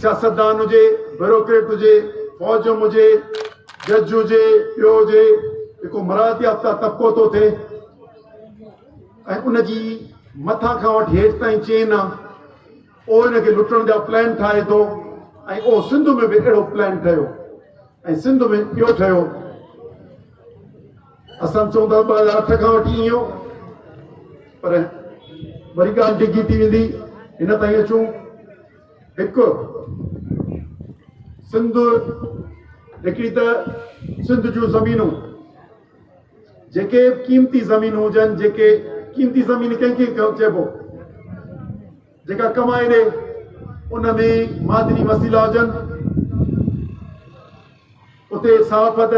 سياستدان هجي، بيوروڪريٽ هجي، فوج جو مجي، جج هجي، ٻيو هجي، جيڪو مراعات يافته طبقو ٿو ٿئي ۽ ان جي مٿان کان وٺي هيٺ تائين چين آ، اهو ان کي لٽڻ جا پلان ٺاهي ٿو ۽ اهو سنڌ ۾ به اهڙو پلان ٺهيو ۽ سنڌ ۾ اهو ٺهيو. اسان چئون ٿا ته ٻه هزار اٺ کان وٺي ايئن هو پر وري ڳالهه ڊگهي ٿي ويندي هن تائين اچون هڪ سنڌ هڪڙي ته سنڌ جون زمينون جيڪي قيمتي زمينون هجن جيڪي قيمتي زمين ڪنهن کي چئبو جيڪا ڪمائي ڏي ان ۾ معدني وسيلا هجن اتي صحافت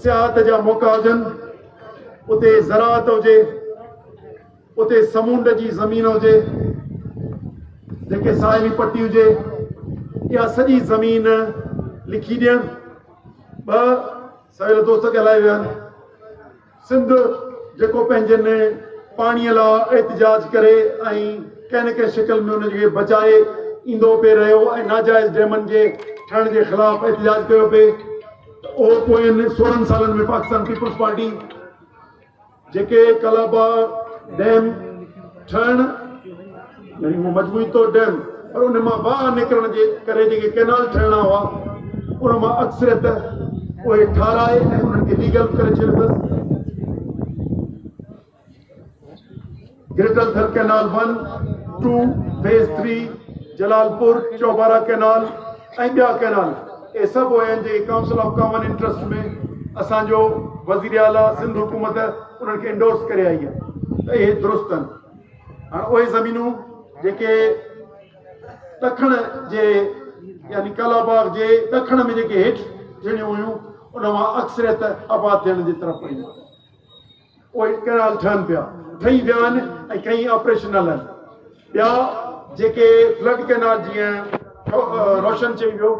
سياحت جا موقع هجن اتي زراعت هجي اتي سمونڊ جي زمين هجي جيڪي ساحلي پٽي هجي اها سڄي زمين لکي ڏيڻ ٻ سويل دوست ڳالهائي ويا آهن. سنڌ جيڪو پنهنجن پاڻي لا احتجاج ڪري ۽ ڪنهن نه ڪنهن شڪل ۾ ان کي بچائي ايندو پي رهيو ۽ ناجائز ڊيمن جي ٺهڻ جي خلاف احتجاج ڪيو پي ته اهو پوين سورهن سالن ۾ پاڪستان پيپلز پارٽي جيڪي ڪالاباغ ڊيم ٺهڻ يعني هو مجموعي طور ڊيم پر ان مان واهه نڪرڻ جي ڪري جيڪي ڪينال ٺهڻا هئا ان مان اڪثريت اهي ٺاراهي ۽ انهن کي ليگل ڪري ڇڏيو اٿس greater Thar canal one, two, phase three, Jalalpur, Chaubara canal ۽ ٻيا ڪئنال اهي سڀ اهي آهن جيڪي ڪائونسل آف ڪامن انٽرسٽ ۾ اسان جو وزير اعليٰ سنڌ حڪومت انهن کي انڊورس ڪري آئي آهي ته اهي درست آهن هاڻ اهي زمينون جيڪي ڏکڻ جي يعني ڪلا باغ جي ڏکڻ ۾ جيڪي هيٺ ٿيڻيون هيون ان مان اڪثريت آباد ٿيڻ جي طرف ويون اهي ڪئنال ٺهن پيا، ٺهي ويا آهن ۽ ڪئين آپريشنل آهن. ٻيا جيڪي فلڊ ڪئنال جيئن روشن چئي ويو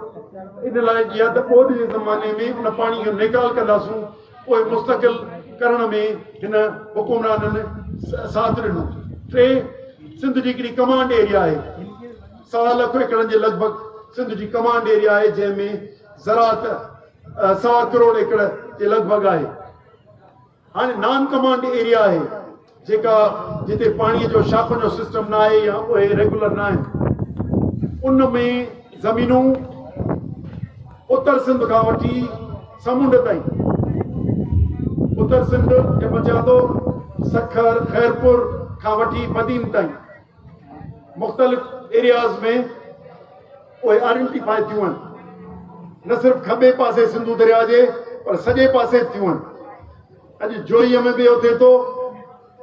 ان لاء جي آهي ته ٻوڏ جي زماني ۾ ان پاڻي جو نيڪال ڪنداسون اهي مستقل ڪرڻ ۾ هن حڪمرانن ساٿ ڏنو. ٽي سنڌ جي هڪڙي ڪمانڊ ايريا آهي سوا لک ايڪڙن جي لڳ ڀڳ سنڌ جي ڪمانڊ ايريا آهي جنهن ۾ زراعت سوا ڪروڙ ايڪڙ جي لڳ ڀڳ آهي. هاڻي نان ڪمانڊ ايريا آهي جيڪا جتي پاڻي جو شاخن جو سسٽم نه آهي يا اهي ريگولر نه آهن ان ۾ زمينون اتر سنڌ کان وٺي سمنڊ تائين اتر سنڌ کي پچان ٿو سکر خيرپور کان وٺي بدين تائين مختلف ايرياز ۾ اهي آئيڊينٽيفائي ٿيون هن نه صرف کٻي پاسي سنڌو درياء جي پر سڄي پاسي ٿيون هن اڄ جوئي ۾ به اهو ٿئي ٿو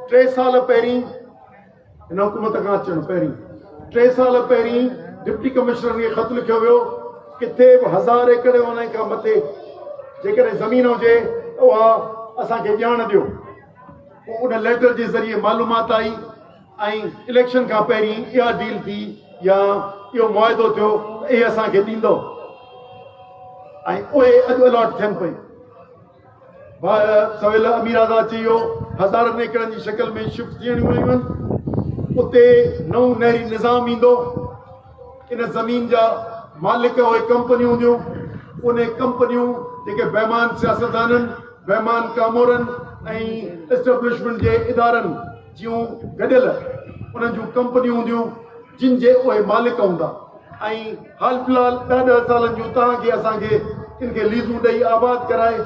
ٽي سال پهرين هن حڪومت کان اچڻ پهرين ٽي سال پهرين ڊپٽي کي خط لکيو ويو کي هزار ايڪڙ ڏيو ان ليٽر ذريعي معلومات آئي ۽ اليڪشن کان پهرين اها ڊيل ٿي يا اهو معاهدو ٿيو ته اهي اسان کي ڏيندؤ ۽ اهي اڄ الاٽ ٿين پيون ٻاهر سويل امير آزاد چيو هزارن ايڪڙن جي شڪل ۾ شفٽ ٿيڻ ويون آهن اتي نئون نهري نظام ايندو ان زمين جا مالڪ اهي ڪمپنيون هونديون ان ڪمپنيون جيڪي بيمان سياستدانن بيمان ڪامورن ۽ اسٽبلشمنٽ جي ادارن جيون گڏيل انهن جون ڪمپنيون هونديون جن جي اهي مالڪ هوندا ۽ حال في الحال ڏهه ڏهه سالن جون توهان کي اسان کي ان کي ليزون ڏئي آباد ڪرائي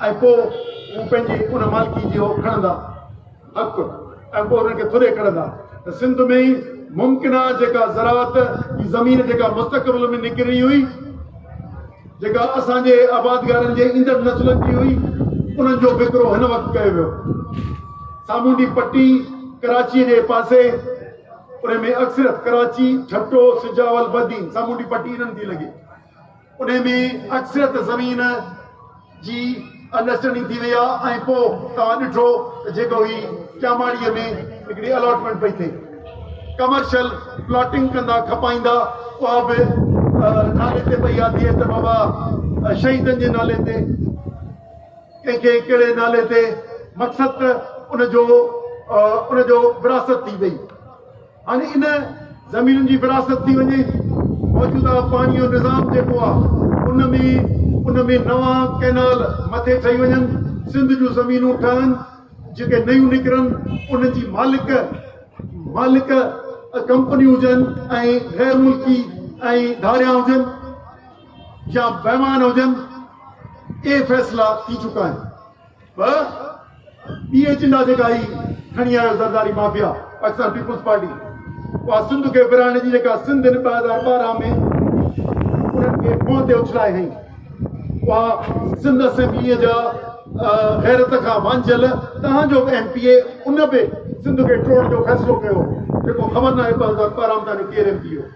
۽ پوء هو پنهنجي ان مالڪي جي هو کڻندا حق ۽ پوء انهن کي ٿوري کڻندا ته سنڌ ۾ ئي ممڪن آهي جيڪا زراعت جي زمين جيڪا مستقبل ۾ نڪرڻي هئي جيڪا اسان جي آبادگارن جي ايندڙ نسلن جي هئي، انهن جو وڪرو هن وقت ڪيو ويو. سامونڊي پٽي ڪراچيء جي پاسي، انهي ۾ اڪثريت ڪراچي، ٺٽو، سجاول، بدين، سامونڊي پٽي انهن ٿي لڳي. انهي ۾ اڪثريت زمين. جي انڊرسٽينڊنگ ٿي وئي آ ۽ پو توهان ڏٺو ته جيڪو هي ڄاماڙيء ۾ هڪڙي الاٽمينٽ پئي ٿئي ڪمرشل پلاٽنگ ڪندا کپائيندا اها به نالي تي پئي آ ٿئي ته بابا شهيدن جي نالي تي ڪنهن کي ڪهڙي نالي تي مقصد ته ان جو ان جو وراثت ٿي وئي اڄ ان زمينن جي ورهاست ٿي وڃي. موجوده پاڻي جو نظام جيڪو آ ان ۾ ان ۾ نوان ڪئنال مٿي ٺهي وڃن، سنڌ جون زمينون ٺهن، جيڪي نيون نڪرن انهن جي مالڪ مالڪ ڪمپنيون هجن ۽ غير ملڪي ۽ ڌاڙيان هجن يا بيمان هجن اهي فيصلا ٿي چڪا آهن. ٻه ٻي ايجنڊا جيڪا هي کڻي آيو Zardari mafia Pakistan peoples party اها سنڌ کي ورهائڻ جي جيڪا سنڌ هن ٻه هزار ٻارهن ۾ انهن کي منهن تي اڇلائي هئي اها سنڌ اسيمبليء جا غيرت کان وانجھيل تهان جو ايم پي اي ان به سنڌ کي ٽوڙڻ جو فيصلو ڪيو جيڪو خبر ناهي ٻه هزار ٻارهن ۾ تهان جو ڪير ايم پي اي هو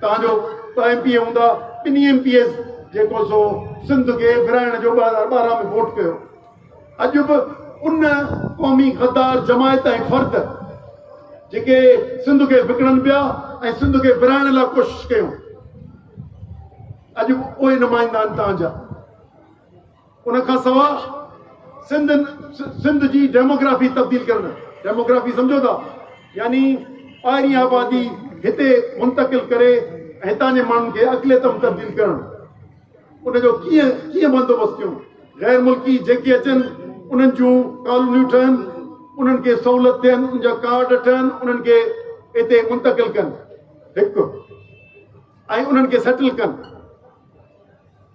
توهان جو ٻه ايم پي اي هوندا، ٻنهي ايم پي ايز جيڪو سو سنڌ کي ورهائڻ جو ٻه هزار ٻارهن ۾ ووٽ ڪيو. اڄ به ان قومي غدار جماعت ۽ فرد جيڪي سنڌ کي وڪڻن پيا ۽ سنڌ کي ورهائڻ لاء ڪوشش ڪيون اڄ به اهي نمائندا آهن توهان جا. ان کان سواء سنڌ سنڌ جي ڊيموگرافي تبديل ڪرڻ ڊيموگرافي سمجھو ٿا يعني ٻاهرين آبادي هتي منتقل ڪري هتان جي ماڻهن کي اقليت ۾ تبديل ڪرڻ ان جو ڪيئن ڪيئن بندوبست ڪيون غير ملڪي جيڪي اچن انهن جون ڪالونيون ٺهن انهن کي سہولت ڏين ان جا ڪارڊ ٺهن انهن کي هتي منتقل ڪن هڪ ۽ انهن کي سيٽل ڪن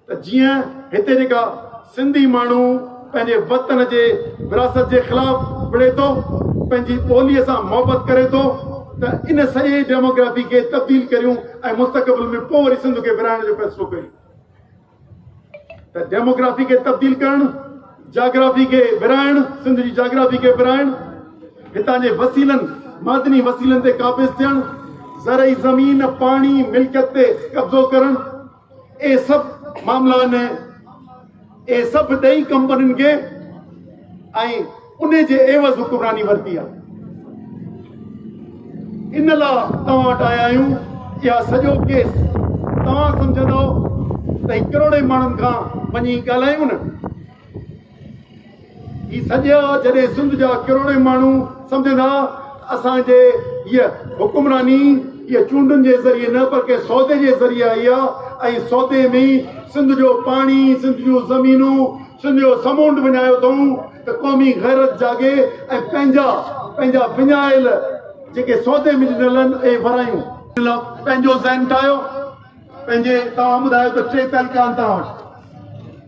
ته جيئن هتي جيڪا سنڌي ماڻهو پنهنجي وطن جي وراثت جي خلاف وڙهي ٿو، پنهنجي ٻوليء سان محبت ڪري ٿو ته ان سڄي ڊيموگرافي کي تبديل ڪريون ۽ مستقبل ۾ پوء وري سنڌ کي ورهائڻ جو فيصلو ڪيون ته ڊيموگرافي کي تبديل ڪرڻ جاگرافي کي ورهائڻ سنڌ جي جاگرافي کي ورهائڻ هتان جي وسيلن معدني وسيلن تي قابض ٿيڻ زرعي زمين پاڻي ملڪيت تي قبضو ڪرڻ اهي سڀ معاملا آهن، اهي سڀ ڏيئي ڪمپنين کي ۽ ان جي عيوض حڪمراني ورتي آهي. ان لا توهان وٽ آيا آهيون، اها سڄو ڪيس توهان سمجهندؤ ته هي ڪروڙين ماڻهن کان وڃي ڳالهايون نه؟ هي سڏيا جڏهن سنڌ جا ڪروڙين ماڻهو سمجهندا ته اسان جي هيء حڪمراني هيء چونڊن جي ذريعي نه پر ڪنهن سودي جي ذريعي آئي آ ۽ سودي ۾ سنڌ جو پاڻي، سنڌ جون زمينون، سنڌ جو سمونڊ وڃايو اٿئون ته قومي غيرت جاڳي ۽ پنهنجا پنهنجا وڃايل جيڪي سودي ۾ ڏنل آهن اهي ورايون. ان لاء پنهنجو ذهن ٺاهيو. پنهنجي توهان ٻڌايو ته ٽي طريقا آهن توهان وٽ.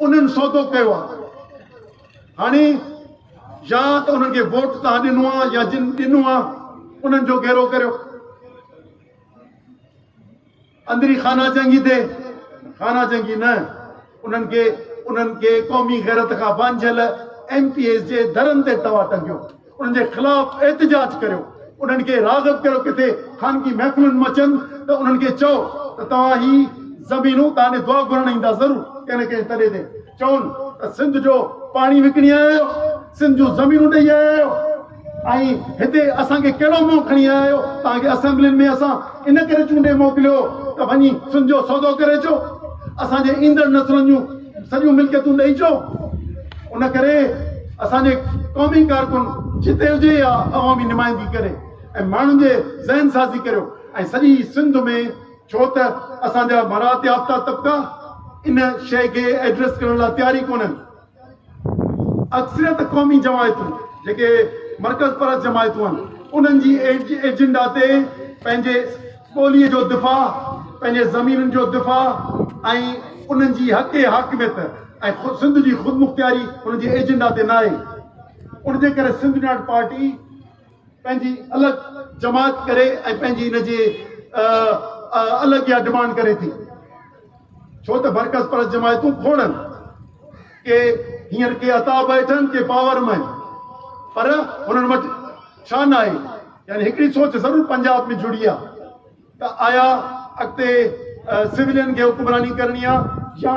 انهن سودو ڪيو آ هاڻي يا ته انهن کي ووٽ توهان ڏنو آ يا جن ڏنو آ انهن جو گهيرو ڪريو اندري خانه جنگي تي خانه جنگي نه انهن کي انهن کي قومي غيرت کان وانجهيل ايم پي ايز جي درن تي توهان ٽنگيو انهن جي خلاف احتجاج ڪريو، انهن کي راغب ڪريو ڪٿي خانگي محفلن مان اچن ته انهن کي چئو ته توهان هي زمينون توهان ڏي دعا گهرڻ ايندا ضرور ڪنهن نه ڪنهن تڏي تي چون ته سنڌ جو پاڻي وڪڻي آيا آهيو، سنڌ جون زمينون ڏئي آيا آهيو ۽ هتي اسان کي ڪهڙو منهن کڻي آيا آهيو، توهان کي اسيمبلين ۾ اسان ان ڪري چونڊي موڪليو ته وڃي سنڌ جو سودو ڪري اچو، اسان جي ايندڙ نسلن جون سڄيون ملڪيتون ڏئي چئو ان ڪري اسان جي قومي ڪارڪن جتي هجي يا عوامي نمائندگي ڪري ۽ ماڻهن جي ذهن سازي ڪريو ۽ سڄي سنڌ ۾ ڇو ته اسان جا مراعات يافته طبقا ان شيء کي ايڊريس ڪرڻ لاء تيار ئي ڪونهن اڪثريت قومي جماعتون جيڪي مرڪز پرست جماعتون آهن انهن جي ايجنڊا تي پنهنجي ٻوليء جو دفاع، پنهنجي زمينن جو دفاع ۽ انهن جي حق حاڪميت ۽ خود سنڌ جي خودمختياري هن جي ايجنڊا تي ناهي. ان جي ڪري سنڌ يونائيٽيڊ پارٽي پنهنجي الڳ جماعت ڪري ۽ پنهنجي ان جي الڳ اها ڊمانڊ ڪري ٿي. ڇو ته برعڪس پرست جماعتون کوڙن، ڪي هينئر ڪي عطا بيٺن ڪي پاور ۾ پر انهن وٽ ڇا ناهي؟ يعني هڪڙي سوچ ضرور پنجاب ۾ جڙي آ ته آيا اڳتي سولين کي حڪمراني ڪرڻي آ يا